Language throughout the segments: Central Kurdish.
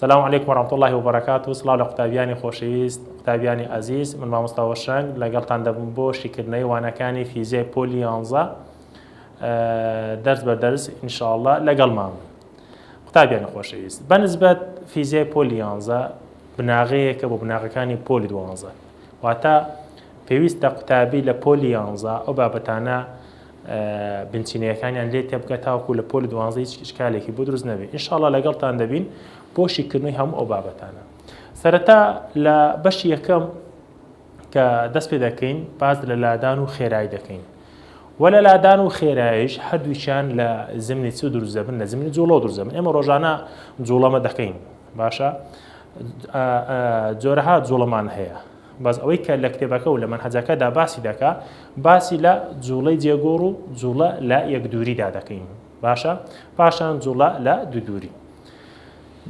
سلام علیکم و رحمت اللە و برکاته سڵاو لە قوتابیانی خۆشەویست قوتابیانی ئەزیز من مامۆستا هۆشرەنگ لەگەڵتان دەبم بۆ شیکردنەوەی وانەکانی فیزیای پۆلی یانزە دەرس بە دەرس ان شاء الله لەگەڵمان بن قوتابیانی خۆشەویست بەنسبەت فیزیای پۆلی یانزە بناغەیەکە بۆ بناغەکانی پۆلی دوانزە واتە پێویستە قوتابی لە پۆلی یانزە ئەو بابەتانە بنچینەیەکانیان لێ تێبگا تاوەکو لە پۆلی دوانزە هیچ ئیشکالێکی بۆ دروست نەبێت انشاءاللە لەگەڵتان دەبین بۆ شیکردنەوەی هەموو ئەو بابەتانە سەرەتا لە بەشی یەکەم کە دەست پێ دەکەین باز لە لادان و خێرایی دەکەین وە لە لادان و خێرایش هەردووچیان لە زمنی چ دروست دەبن لە زمنی جوڵە دروست دەبن ئێمە ڕۆژانە جوڵەمە دەکەین باشە جۆرەها جوڵەمان هەیە بەس ئەوەی کە لە کتێبەکە و لە مەنهەجەکە دا باسی دەکا باسی لە جووڵەی جێگۆڕ و جووڵە لە یەک دووری دا دەکەین باشە پاشان جووڵە لە دوو دووری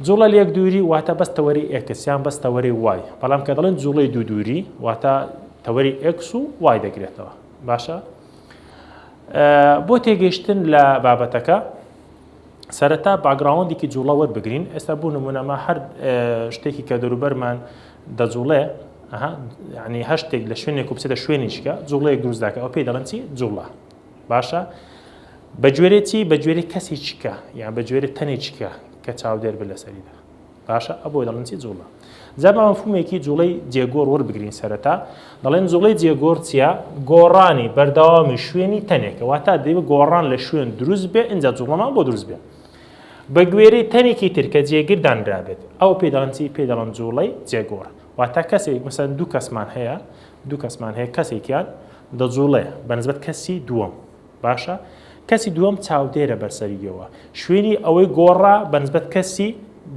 جوڵە لە یەک دووری واتە بەس تەوەری ئێکس یان بەس تەوەری وای بەڵام کە دەڵێن جوڵەی دوو دووری واتە تەوەری ئێکس و وای دەگرێتەوە باشە بۆ تێگەشتن لە بابەتەکە سەرەتا باگراوندێکی جوڵەوەت بگرین ئێستا بوو نمونەما هەر شتێکی کە دەروبەرمان دەجوڵێ، ئەها، یەعنی هەر شتێک لە شوێنێک و بچێتە شوێنیشکە، جوڵەیەک دروست دەکات، ئەوە پێی دەڵێن چی؟ جوڵە. باشە؟ بە گوێرەی چی؟ بە گوێرەی کەسیچکە، یان بە گوێرەی تەنێکچکە کە چاودێر بێت لەسەریدا. باشە؟ ئەبۆی دەڵێن چی؟ جوڵە. جا با مەفهومێکی جوڵەی جێگۆڕ وەربگرین سەرەتا، دەڵێن جوڵەی جێگۆڕ چییە؟ گۆڕانی بەردەوامی شوێنی تەنێکە، واتە دەبێ گۆڕان لە شوێن دروست بێ، ئینجا جوڵەمان بۆ دروست بێ. بە گوێرەی تەرێکی تر کە جێگر دانرابێت ئەو پێ دەڵێن چی پێ دەڵێن جوڵەی جێگۆڕ واتە کەسێک مەسەن دوو کەسمان هەیە دوو کەسمان هەیە کەسێکیان دەجوڵێ بەنسبەت کەسی دووەم باشە کەسی دووەم چاودێرە بەرسەریەوە شوێنی ئەوەی گۆڕا بەنسبەت کەسی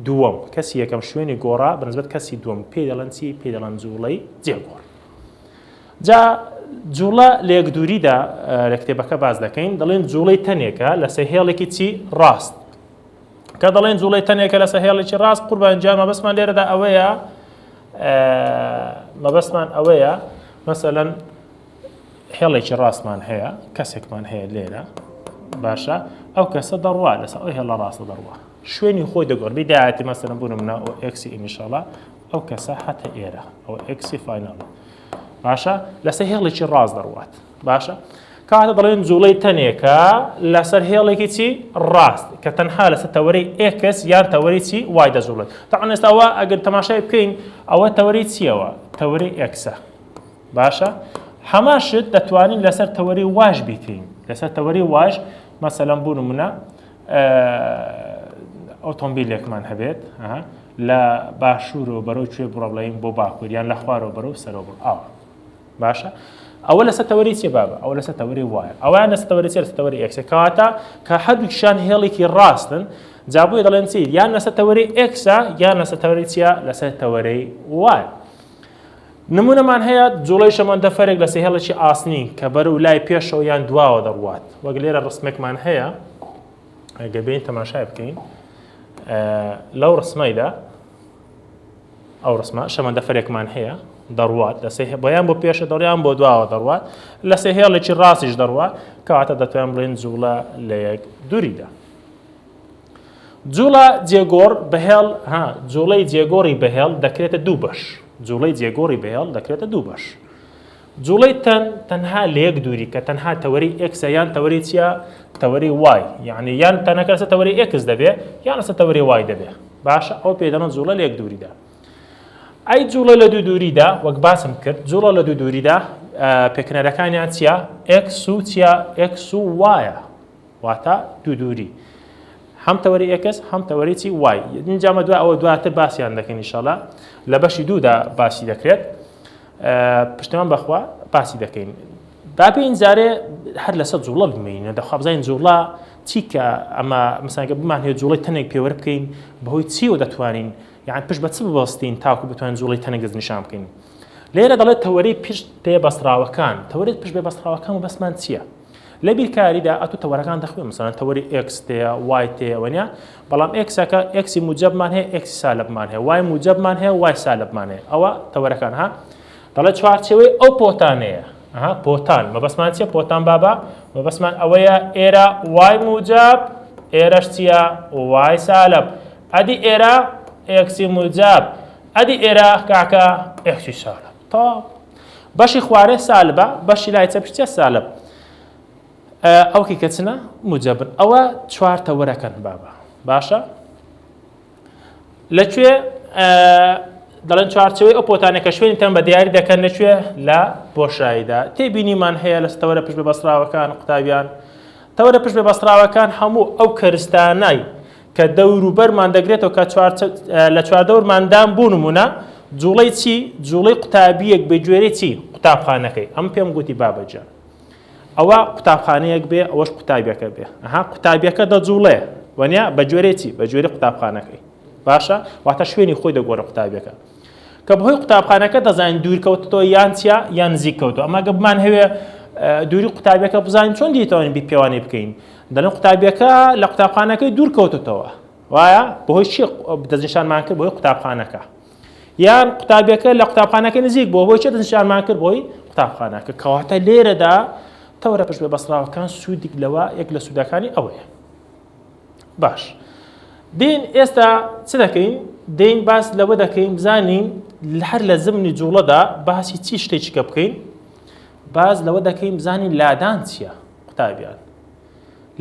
دووەم کەسی یەکەم شوێنی گۆڕا بەنسبەت کەسی دووەم پێ دەڵەن چی پێ دەڵەن جوڵەی جێگۆڕ جا جووڵە لە یەکدووریدا لە کتێبەکە باس دەکەین دەڵێن جووڵەی تەنێکە لەسەر هێڵێکی چی ڕاست کە دەڵێن جووڵەی تەنێکە لەسە هێڵێکی ڕاست قوربانجا مەبەستمان لێرەدا ئەوەیە مەبەستمان ئەوەیە مەسەەن هێڵێکی ڕاستمان هەیە کەسێکمان هەیە لێرە باشە ئەو کەسە دەڕوا لەسەر ئەو هێڵە ڕاستە دەڕوا شوێنی خۆی دەگۆڕ بیداەتی مەسەرە بوونم ناوەکسی ئینشاڵە ئەو کەسە هاتە ئێرە ئەوە ئێکسی فایناڵە باشە لەسەر هێڵێکی ڕاست دەڕوات باشە کاتە دەڵێن جوڵەی تەنێکە لەسەر هێڵێکی چی ڕاست کە تەنها لەسەر تەوەری ئێکس یان تەوەری چی وای دەجوڵێت تاعن ئێستاوە ئەگەر تەماشای بکەین ئەوە تەوەری چیەوە تەوەری ئێکسە باشە هەمان شت دەتوانین لەسەر تەوەری واش بیکەین لەسەر تەوەری واش مەسەلەم بوون منە ئۆتۆمبیلێکمان هەبێت لە باشوورەوە بەرەو کوێ بڕە بڵێن بۆ باکوور یان لە خوارەوە بەرەو سەرەوە بڕ ئاوە باشە ئەوە لەسەر تەوەری چێ بابە ئەو لەسەر تەوەری وایە ئەویان لەسەر تەوەری چێ تەوەری ئەکسە کەواتە کە هەردووکیشان هێڵێکی ڕاستن جابووی دەڵێن چی یان لەسەر تەوەری ئەکسا یان لەسەر تەوەری چیە لەسەر تەوەرەی وایە نموونەمان هەیە جوڵەی شەمەندەفەرێک لە سێهێڵێکی ئاسنی کە بەر و لای پێشەوە یان دواوە دەڕوات وەک لێرە ڕسمێکمان هەیە گەبین تەماشای بکەین لەو ڕسمایدا ئەو ڕسمە شەمەندەفەرێکمان هەیە دەڕوات لە سێ بۆیان بۆ پێشە دەڕیان بۆ دواوە دەڕوات لە سێ هێڵێکی ڕاستیش دەڕوات کەواتە دەتوان بڵێن جوڵە لە یەک دووریدا جووڵە جێگۆڕ بەهێڵ ها جووڵەی جێگۆڕی بەهێڵ دەکرێتە دوو بەش جووڵەی جێگۆڕی بەهێڵ دەکرێتە دوو بەش جوڵەی تەن تەنها لە یەک دووری کە تەنها تەوەری ئەکسە یان تەوەری چیە تەوەری وای یعنی یان تەنەکە سە تەوەری ئەکس دەبێ یان سە تەوەری وای دەبێ باشە ئەو پێدەنە جوڵە لە یەک دووریدا ئەی جوڵە لە دوو دووریدا وەک باسم کرد جوڵە لە دوو دووریدا پێکنەرەکانیان چیە ئەکس و چیە ئەکس و وایە واتا دوو دووری هەم تەوەری ئێکس هەم تەوەری چی وای اینجا مە دوا ئەوە دواتر باسییان دەکەین ئیشەڵا لە بەشی دوودا باسی دەکرێت پشتمان بەخوا باسی دەکەین بابی ئینجارێ هەر لەسەر جوڵە بمێنە دەخوابزانین جوڵە چی کە ئەمە مساگە بمان هەیە جوڵی تەنێک پێوەر بکەین بەهۆی چیەوە دەتوانین یان پشت بە چ ببستین تاکو بتوان جوڵی تەنێک دەست نیشان بکەین لێرە دەڵێت تەوەری پشت پێ بەسراوەکان تەوەرێت پشت بێ بەسراوەکان و بەسمان چییە؟ لە بیرکاریدا ئەتو تەوەرەکان دەخوێ مثلەن تەوەری ئێکس تێە وای تێ وەنیا بەڵام ئێکسەکە ئێکسی موجەبمان هەیە ئێکسی سالبمان هەیە وای موجەبمان هەیە وای سالبمان هەیە ئەوە تەوەرەکان ها دەڵێ چوارچەوەی ئەو پۆتانەیە ئەها پۆتان مەبەسمان چیە پۆتان بابا مەبەسمان ئەوەیە ئێرە وای موجەب ئێرەش چیە وای سالب ئەدی ئێرە ئێکسی موجەب ئەدی ئێرە کاکە ئێکسی سالب تەواو بەشی خوارێ سالبە بەشی لای چەپش چە سالب ئەو کە چنە موجەبن ئەوە چوار تەوەرەکەن بابە باشە لەکوێ دەڵێن چوارچەوەی ئەو پۆتانە کە شوێنی تەن بە دیاری دەکەن لەکوێ لە بۆشاییدا تێبینیمان هەیە لە ستەوەرە پشت بە بەسراوەکان قوتابیان تەوەرە پشت بە بەسراوەکان هەموو ئەو کەرستانای کە دەوروبەرمان دەگرێتەوە کە لە چواردەورماندام بۆ نمونە جوڵەی چی جوڵەی قوتابیەک بە گوێرە چی قوتابخانەکەی ئەم پێم گوتی بابەجە ئەوە قوتابخانەیەک بێ ئەوەش قوتابیەکە بێ ها قوتابیەکە دەجوڵێ وەنیا بە گوێرە چی بە گوێری قوتابخانەکەی باشە واتە شوێنی خۆی دەگۆرە قوتابیەکە کە بەهۆی قوتابخانەکە دەزانین دوورکەوتەوە یان چیا یان نزیککەوتو ئەمە گەبمان هەوێ دووری قوتابیەکە بزانین چۆن دیتوانین بی پێوانی بکەین دەڵێن قوتابیەکە لە قوتابخانەکەی دوور کەوتتەوە وایە بەهۆی چی دەستنیشانمان کرد بۆی قوتابخانەکە یان قوتابیەکە لە قوتابخانەکە نزیک بۆ بۆی چ دەستنیشانمان کرد بۆی قوتابخانەکە کەواتە لێرەدا تەورە پشت بە بەسراوەکان سوودیک لەوە یەک لە سوودەکانی ئەوەیە باش دین ئێستا چ دەکەین دین باس لەوە دەکەین بزانین هەر لە زمنی جوڵەدا باسی چی شتێکیکە بکەین باز لەوە دەکەین بزانین لادان چییە قوتابیان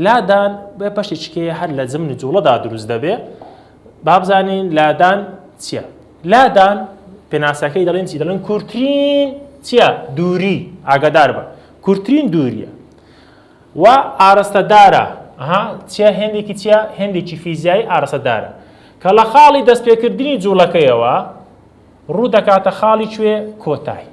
لادان بە پەشی چکەیە هەر لە زمن و جوڵەدا دروست دەبێ بابزانین لادان چییە لادان پێناسەکەی دەڵێن چی دەڵێن کورتترین چییە دووری ئاگادار بە کورتترین دووریە و ئارستەدارە چیە هێندێکی چیە هێندێکی فیزیایی ئارسەدارە کە لە خاڵی دەستپێکردنی جوڵەکەیەوە ڕوو دەکاتە خاڵی کوێ کۆتای.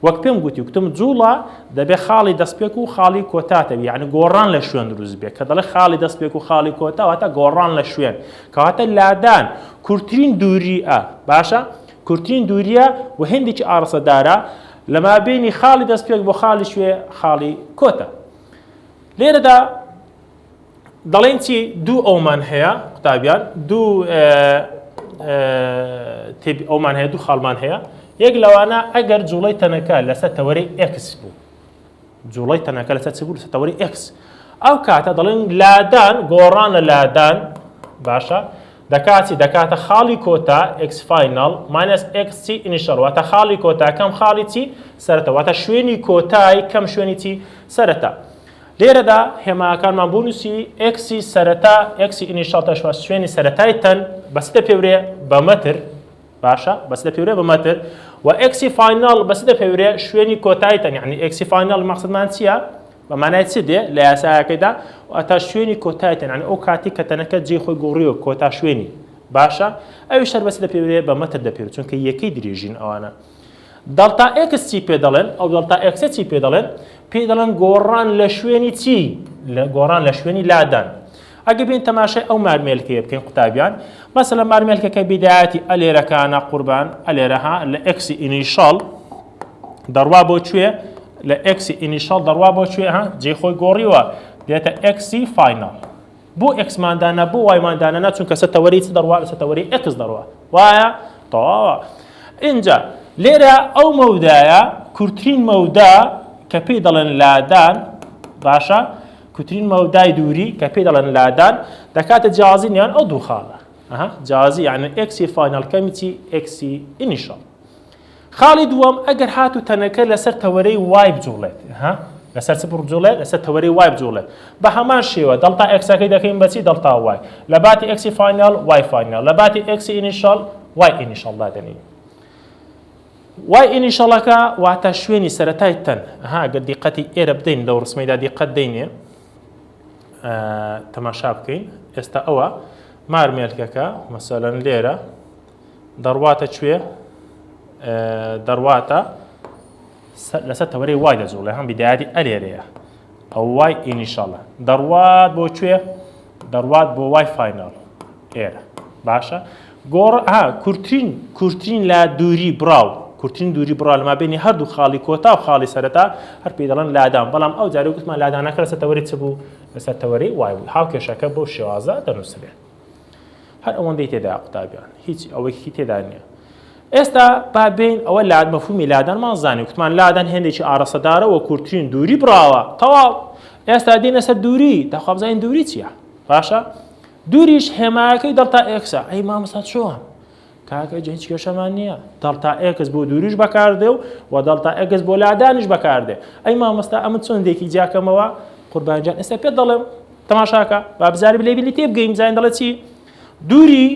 وەک پێم گوتی گوتم جوڵە دەبێ خاڵی دەستپێک و خاڵی کۆتاتەوی یعنی گۆڕان لە شوێن دروست بێ کە دەڵێ خاڵی دەستپێک و خاڵی کۆتاواتە گۆڕان لە شوێن کەواتە لادان کورتترین دووریە باشە کورتترین دووریە و هندێکی ئارسەدارە لەما بینی خاڵی دەستپێک بۆ خاڵی شوێ خاڵی کۆتە لێرەدا دەڵێن چی دوو ئەومان هەیە قوتابیان دوو تێبی ئەومان هەیە دوو خاڵمان هەیە یەک لەوانە ئەگەر جوڵی تەنەکە لەسەر تەوەری ئکس بوو جوڵی تەنەکە لەسەر چ بوو لەسەر تەوەری ئکس ئەو کاتە دەڵێن لادان گۆڕان لە لادان باشە دەکاتی دەکاتە خاڵی کۆتا ئکس فینال ماینەس ئکس چی ئینیشەڵ واتە خاڵی کۆتا کەم خاڵی چی سەرەتە واتە شوێنی کۆتای کەم شوێنی چی سەرەتە لێرەدا هێماکانمان بۆ نووسی ئێکسی سەرەتا ئێکسی ئینیشال تاشوا شوێنی سەرەتای تەن بەس دەپێورێ بە مەتر باشە بەس دەپێورێ بە مەتر و ئێکسی فاینال بەس دەپێورێ شوێنی کۆتای تەن یعنی ئێکسی فاینال مەقصدمان چییە؟ بەمانای چ دێ لە یاسایەکەیدا ئەتا شوێنی کۆتایتن ئەو کاتی کە تەنەکە جێ خۆی گۆڕیەوە کۆتا شوێنی باشە ئەوی شەربەسی دەپێورێ بە مەتر دەپێور چونکە یەکەی درێژین ئەوانە دەڵتا ئێکس چی پێ دەڵێن؟ ئەو دەڵتا ئێکسە چی پێ دەڵێن؟ پێی دەڵێن گۆڕان لە شوێنی چی؟ گۆڕان لە شوێنی لادان. ئەگە بین تەماشای ئەو مارمێلکەیە بکەین قوتابیان مەسە لە مارمێلکەکە بیدایەتی ئەلێرەکانە قوربان ئەلێرەها لە ئەکسی ئینیشەڵ دەڕوا بۆ کوێ لە ئەکسی ئینیشەڵ دەڕوا بۆ کوێ ها جێ خۆی گۆڕیوە دێتە ئەکسی فینەڵ بۆ ئێکسمان دانا بۆ وایمان دانەنا چونکە سە تەوەری چ دەڕوا لەسە تەوەری ئێکس دەڕوا وایە تەواوە ئینجا لێرە ئەو مەودایە کورتترین مەودا کە پێی دەڵێن لادان باشە کوترین مەودای دووری کە پێی دەڵێن لادان دەکاتە جیازی نیان ئەو دوو خاڵە جیازی یعنی ئەکسی فینال کەمیی ئەکسی ئینیشڵ خاڵی دووەم، ئەگەر هاتوو تەنەکە لەسەر تەوەرەی وای بجوڵێت، ها؟ لەسەر چ بڕجوڵێت؟ لەسەر تەوەرەی وای بجوڵێت. بە هەمان شێوە، دەڵتا ئێکسەکەی دەکەین بە چی؟ دەڵتا وای. لە باتی ئێکسی فایناڵ، وای فایناڵ. لە باتی ئێکسی ئینیشاڵ، وای ئینیشاڵ دادەنێین. وای ئینیشاڵەکە واتە شوێنی سەرەتای تەن. ها گەر دیقەتی ئێرە بدەین لەو ڕسمەیدا دیقەت دەینێ. تەماشا بکەین. ئێستا ئەوە مارمێلکەکە مەسەلەن لێرە دەڕواتە کوێ؟ دەڕواتە لەسەر تەوەرەی وای دەجوڵێ هەم بیداری ئەلێرەیە ئەو وای ئینیشاڵە دەڕوات بۆ کوێ دەڕوات بۆ وای فینال ئێرە باشە گۆڕ ها کورتترین کورتترین لە دووری بڕاو کورتترین دووری بڕا لەما بینی هەردوو خاڵی کۆتا و خاڵی سەرەتا هەر پێ دەڵێن لادان بەڵام ئەو جارە گوتمان لادانەکە لەسەر تەوەری چ بوو لەسەر تەوەری وای بوو هاو کێشەکە بۆ شێوازە دەنووسێت هەر ئەوەندەی تێدایە قوتابیان هیچ ئەوەیکی تێدا نییە ئێستا با بین ئەوە لاد مەفهومی لادانمان زانانی وتمان لادان هێندێکی ئارەسەدارە و کورتترین دووری بڕاوە تەواو ئێستا دینە سەر دووری داخوابزانین دووری چییە باشە دووریش هێمایەکەی دڵتا ئێکسا ئەی مامەستا چۆن کاک ئەجە هیچ کێشەمان نییە دەڵتا ئێکس بۆ دووریش بەکاردێ و و دەڵتا ئەگەز بۆ لادانیش بەکاردێ ئەی مامۆستا ئەمە چۆندێکی جیاکەمەوە قوربانجان ئێستا پێ دەڵێم تەماشاکە با بزاری لێ بلی تێ بگەین زین دەڵێت چی دووری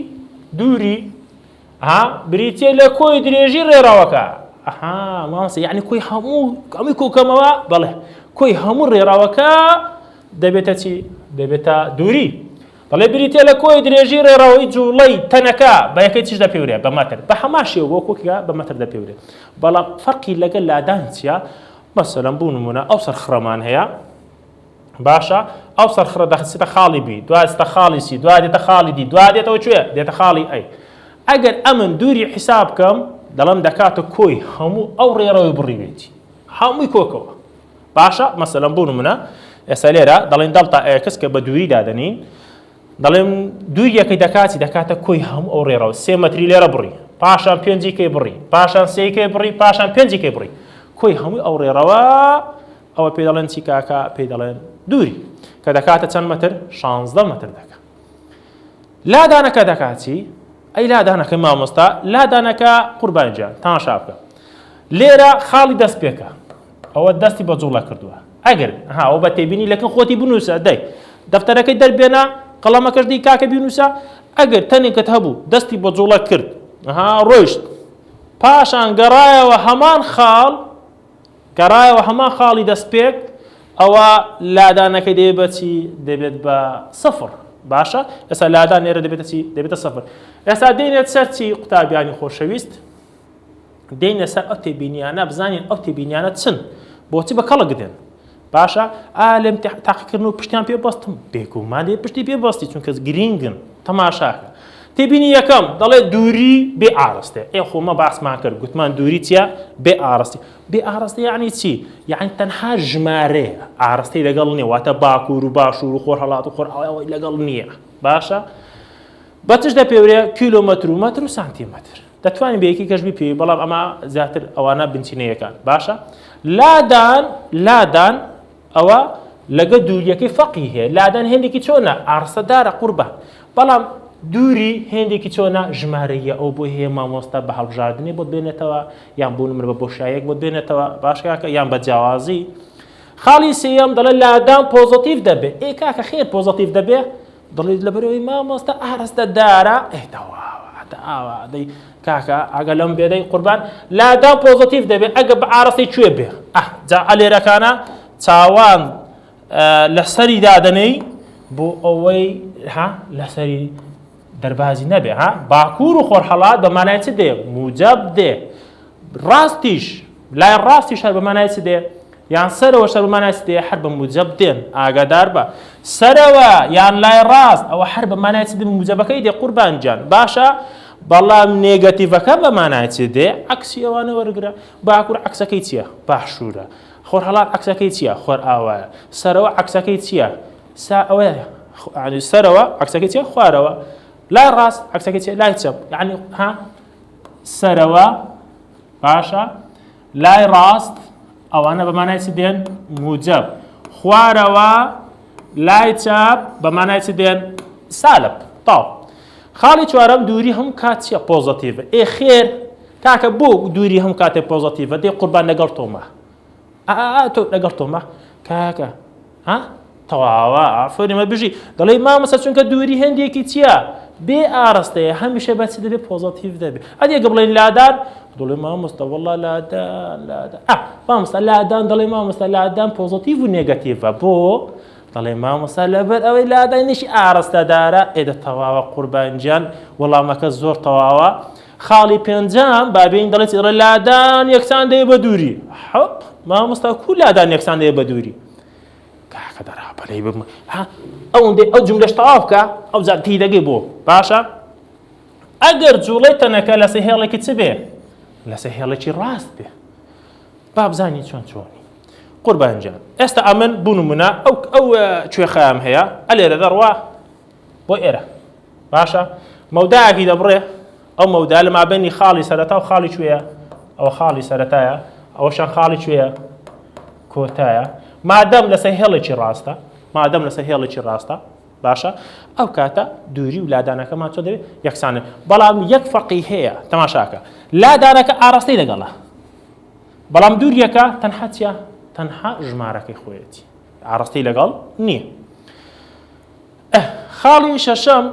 دووری ها بریتە لە کۆی درێژی ڕێراوەکە ئەها مامۆستا یعنی کۆی هەموو ئەمی کۆکەمەوە بەڵێ کۆی هەموو ڕێراوەکە دەبێتە چی دەبێتە دووری دەڵێت بریتیە لە کۆی درێژی ڕێڕەوەی جووڵەی تەنەکە بە یەکەی چش دەپێورێت بە مەتر بە هەمان شێوە وەکو کە بە مەتر دەپێورێت بەڵام فەرقی لەگەل لادان چیە مەسەلەن بوو نمونە ئەو سەرخڕەمان هەیە باشە ئەو سەرخڕە دەخسیتە خاڵی بی دوازتە خاڵی سی دوا دێتە خاڵی دی دوا دێتەوە کوێ دێتە خاڵی ئەی ئەگەر ئەمن دووری حیساب بکەم دەڵم دەکاتە کۆی هەموو ئەو ڕێڕەوەی بڕیوێتی هەمووی کۆکەوە باشە مەسەلەن بۆ نمونە ئێستا لێرە دەڵێن دەڵتا ئێکس کە بە دووری دادەنین دەڵێن دووریەکەی دەکاتی دەکاتە کۆی هەموو ئەو ڕێڕەوە سێ مەتری لێرە بڕی پاشان پێنجی کەی بڕی پاشان سێی کەی بڕی پاشان پێنجی کەی بڕی کۆی هەمووی ئەو ڕێڕەوە ئەوە پێ دەڵێن چی کاکە پێ دەڵێن دووری کە دەکاتە چەند مەتر شانزدە مەتر دەکات لادانەکە دەکاتی ئەی لادانەکە مامۆستا لادانەکە قوربانجان تاشا بکە لێرە خاڵی دەست پێکە ئەوە دەستی بە جوڵە کردووە ئەگەر هاوە بە تێبینی لەکن خۆتی بنووسە دەی دەفتەرەکەی دەربێنە قەڵەمەکەش دی کاکە بینووسە ئەگەر تەنێکت هەبوو دەستی بە جوڵە کرد ها ڕۆیشت پاشان گەڕایەوە هەمان خاڵ گەڕایەوە هەمان خاڵی دەستپێک، ئەوا لادانەکەی دەبێت بە چی؟ دەبێت بە سفر. باشە ئێستا لادان لێرە دەبێتە چی؟ دەبێتە سفر. ئێستا دێنێت سەر چی قوتابیانی خۆشەویست؟ دێنە سەر ئەو تێبینیانە بزانین ئەو تێبینیانە چن بۆچی بە کەڵک دێن باشە ئا لەم تاقیکردن و پشتیان پێ بەستم بێگومان دێ پشتی پێ بەستی چونکە گرینگن تەماشاکە تێبینی یەکەم، دەڵێت دووری بێ ئاڕستە. ئێ خۆ مە باسمان کرد، گوتمان دووری چییە؟ بێ ئاڕستی. بێ ئاڕستە یانی چی؟ یانی تەنها ژمارەیە، ئاڕستەی لەگەڵ نییە، واتە باکوور و باشوور و خۆرهەڵات و خۆرئاوای ئەوەی لەگەڵ نییە. باشە؟ بە چش دەپێورێ؟ کیلۆمەتر و مەتر و سانتیمەتر. دەتوانین بە یەکی کەش بپێوی، بەڵام ئەمە زیاتر ئەوانە بنچینەیەکان. باشە؟ لادان، لادان، ئەوە لەگە دووریەکەی فەقی هەیە لادان هێندێکی چۆنە ئارسە دارە قوربان بەڵام دووری هێندێکی چۆنە ژمارەیە ئەو بۆی هەیە مامۆستا بە هەڵبژاردنی بۆت بێنێتەوە یان بوون من بە بۆشایەک بۆت بێنێتەوە باشکاکە یان بە جیاوازی خاڵی سێەم دەڵێ لادان پۆزتیف دەبێ ئێ کاکە خێر پۆزتیف دەبێ دڵیت لەبەرەوەی مامۆستا ئارستە دارە ئەی کاکە ئەگە لەم بێدەی قوربان لادا پۆزتیف دەبێت ئەگە بە ئارستی کوێ بێ جا ئەلێرەکانە چاوان لەسەری دادەنەی بۆ ئەوەی ها لەسەری دەربازی نەبێ ها باکوور و خۆرحەڵات بە مانای چ دێ موجب دێ ڕاستیش لای ڕاستی شەر بە مانای چ دێ یان سەرەوە شەر بە مانای چ دێ هەر بە موجەب دێن ئاگادار بە سەرەوە یان لای ڕاست ئەوە هەر بە مانای چ دێ موجەبەکەی دێ قوربان گیان باشە بەڵام نێگەتیڤەکە بە مانای چ دێ عکسی ئەوانە وەرگرە باکوور عکسەکەی چییە باشوورە خۆر هەڵات عکسەکەی چییە خۆر ئاوایە سەرەوە عکسەکەی چییە سا ئەوەیە سەرەوە عکسەکەی چیە خوارەوە لای ڕاست عکسەکەی چیە لای چەپ یعنی ها سەرەوە باشە لای ڕاست ئەوانە بەمانای چ دێن موجب خوارەوە لای چاپ بەمانای چ دێن سالب تاو خاڵی چوارەم دووری هەم کات چیە پۆزتیڤ ئێ خێر تاکە بۆ دووری هەم کاتێک پۆزتیڤ دەی قوربان لەگەڵ تۆمە ئا ئا ئا تۆ لەگەڵ تۆمە کاکە ها تەواوە ئافۆری مە بژی دەڵێ مامەسە چونکە دووری هەندێکی چییە بێ ئاراستەیە هەمیشە بەچ دەبێ پۆزەتیف دەبێ ئەدێ گە بڵێن لادان دڵێ مامۆستا وەڵا لادان لادان مامۆستا لادان دڵێ مامۆستا لادان پۆزەتیڤ و نێگەتیڤە بۆ دەڵێ مامۆستا لەبەر ئەوەی لادانیشی ئاراستەدارە ئێدە تەواوە قوربانجیان وەڵامەکە زۆر تەواوە خاڵی پێنجەم بابێین دەڵێت ئێڕە لادان یەکسان دەیە بە دووری حەپ مامۆستا کو لادان یەکسان دەیە بە دووری کاکە دەرا بەلەی بم ها ئەوەندەی ئەو جملەش تەواو بکە ئەو جار پێی دەگەی بۆ باشە ئەگەر جوڵەی تەنەکە لە سەهێڵێکی چ بێ لە سەهێڵێکی ڕاست بێ بابزانی چۆن چۆنی قوربانجان ئێستا ئەمن بوونممونە ئەو ئەو کوێخیان هەیە ئەلێرە دەڕوا بۆ ئێرە باشە مەودایەکی دەبڕێ ئەو مەودا لە مابینی خاڵی سەرەتا و خاڵی کوێە ئەوە خاڵی سەرەتایە ئەوەشان خاڵی کوێە کۆتایە مادەم لەسەر هێڵێکی ڕاستە مادەم لەسەر هێڵێکی ڕاستە باشە ئەو کاتە دووری و لادانەکەمان چۆ دەوێت یەکسانە بەڵام یەک فەقی هەیە تەماشاکە لادانەکە ئاراستەی لەگەڵە بەڵام دووریەکە تەنها چە تەنها ژمارەکەی خۆیەتی ئاراستەی لەگەڵ نییە ئه خاڵی شەشەم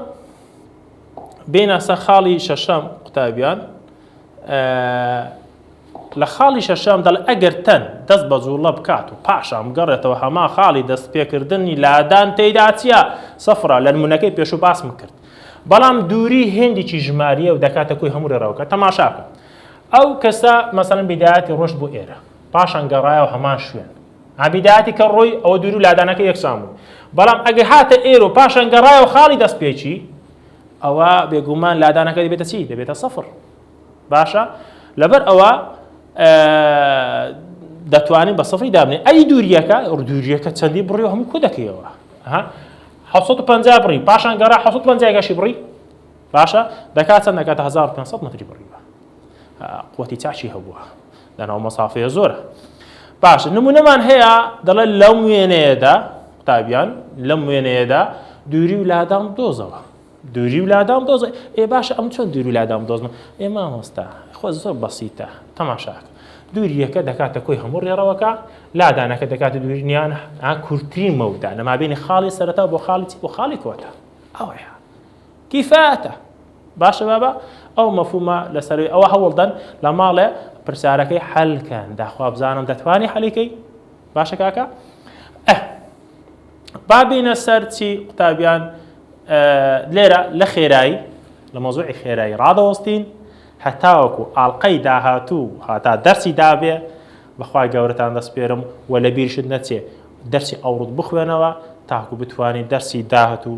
بێنە سەر خاڵی شەشەم قوتابیان ئه لە خاڵی شەشەم دەڵێ ئەگەر تەن دەست بە جوڵە بکات و پاشان بگەڕێتەوە هەما خاڵی دەست پێکردنی لادان تێدا چیە سەفرە لە نمونونەکەی پێشوو باسم کرد بەڵام دووری هێندێکی ژماریە و دەکاتە کوی هەموو رێڕەوەکە تەماشاکە ئەو کەسە مەسەن بیداەتی ڕۆشت بۆ ئێرە پاشان گەڕایەوە هەمان شوێن عەبیدایەتی کە ڕۆی ئەوە دوورو لادانەکەی یەکسان بوو بەڵام ئەگەر هاتە ئێرەو پاشان گەڕایەوە خاڵی دەست پێکی ئەوە بێگومان لادانەکە دەبێتە چی دەبێتە سەفر باشە لەبەر ئەوە دەتوانین بە سەفری دابنێ ئەی دووریەکە دووریەکە چەندی بڕی و هەموو کو دەکەیەوە ها 1950 بڕی پاشان گەڕا 1950 گەشی بڕی باشە دەکات چەند دەکاتە 1500 متری بڕیوە قوتی چاچی هەبووە لەناو مەسافەیە زۆرە باشە نمونەمان هەیە دەڵێت لەم وێنەیەدا قوتابیان لەم وێنەیەدا دووری و لادام دۆزەوە دووری و لادام دۆزە ئێ باشە ئەم چۆن دووری لادام دۆزمە ئێ مامۆستا خۆ زۆر بەسیتە تەماشاک دووریەکە دەکاتە کۆی هەموو ڕێڕەوەکە لادانەکە دەکاتە دوورنیان کورتترین مەودا لەمابینی خاڵی سەرەتا بۆ خاڵی بۆ خاڵی کۆتا ئەوەیە کیفاتە. باشە بابە ئەو مەفهومە لەسەروی ئەوە هەوڵدەن لە ماڵێ پرسیارەکەی حەل کەن داخوا بزانم دەتوانی حەلی کەی باشە کاکە ئە بابینە سەر چی قوتابیان لێرە لە خێرایی لە مۆزوعی خێرایی ڕادەوەستین هەتاوەکو ئاڵلقەی داهاتوو هاتا دەرسی دابێ بەخوای گەورەتان دەسپێرم و لە بیرشت نەچێ دەرسی ئەوڕوت بخوێنەوە تاکو بتوانین دەرسی داهاتوو